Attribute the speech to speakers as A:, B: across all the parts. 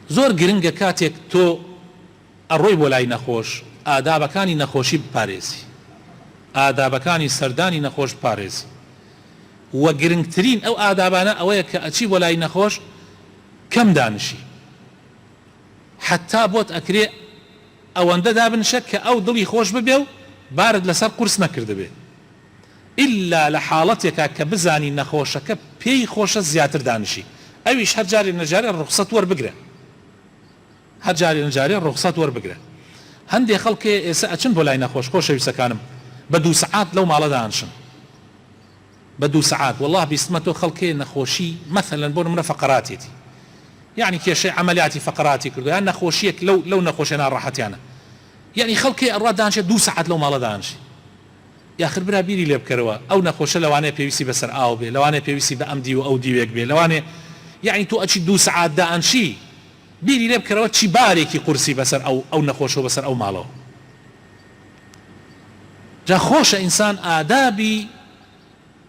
A: زۆر گرنگە کاتێک تۆ ئەڕۆی بۆ لای نەخۆش ئادابەکانی نەخۆشی بپارێزی ئادابەکانی سەردانی نەخۆش بپارێزی وە گرنگترین ئەو ئادابانە ئەوەیە کە ئەچی بۆ لای نەخۆش کەم دانشی حەتا بۆت ئەکرێ ئەوەندە دابنشە کە ئەو دڵی خۆش ببێ و بارت لەسەر قورس نەکردبێ ئیلا لە حاڵەتێکا کە بزانی نەخۆشەکە پێی خۆشە زیاتر دانیشی ئەویش هەر جارێ نەجارێ ڕوخسەت وەربگرە هەر جارێ نەجارێ ڕوخسەت وەربگرە هەندێ خەڵک هەیە ئێسە ئەچن بۆ لای نەخۆش خۆشەویستەکانم بە دوو سەعات لەو ماڵە دانشن بە دوو سەعات وەڵاه بیستمە تۆ خەڵک هەیە نەخۆشی مەثەلەن بۆ نمرە فەقەراتێتی یعنی کێشەی عملیاتی فەقەراتی کردو یان نەخۆشیەک لەو لەو نەخۆشێ ناڕەحەتیانە یعنی خەڵکێ ئەڕا دانشێ دوو سەعات لەو ماڵە دانشی یاخر برا بیری لێ بکەرەوە ئەو نەخۆشە لەوانەیە پێویستی بەسەر ئاو بێ لەوانەیە پێویستی بە ئەم دیو و ئەو دیوێک بێ لەوانەیە یەعنی تۆ ئەچی دوو سەعات دائەنشی بیری لێ بکەرەوە چی بارێکی قورسی بەسەر ئەو ئەو نەخۆشە و بەسەر ئەو ماڵەوە جا خۆشە ئینسان ئادابی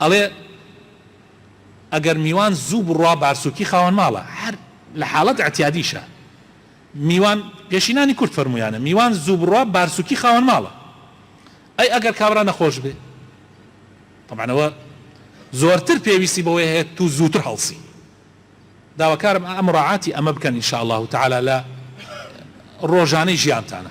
A: ئەڵێ ئەگەر میوان زوو بڕوا بارسوکی خاوەن ماڵە هەر لە حاڵەت ئعتیادیشا میوان پێشینانی کورد فەرموویانە میوان زوو بڕوا بارسوکی خاوەن ماڵە ئەی ئەگەر کابرا نەخۆش بێ تەبعەن ئەوە زۆرتر پێویستی بەوەی هەیە تو زووتر هەڵسی داواکارم ئا مراعاتی ئەمە بکەن ان شاء اللە تعالی لە ڕۆژانەی ژیانتانا.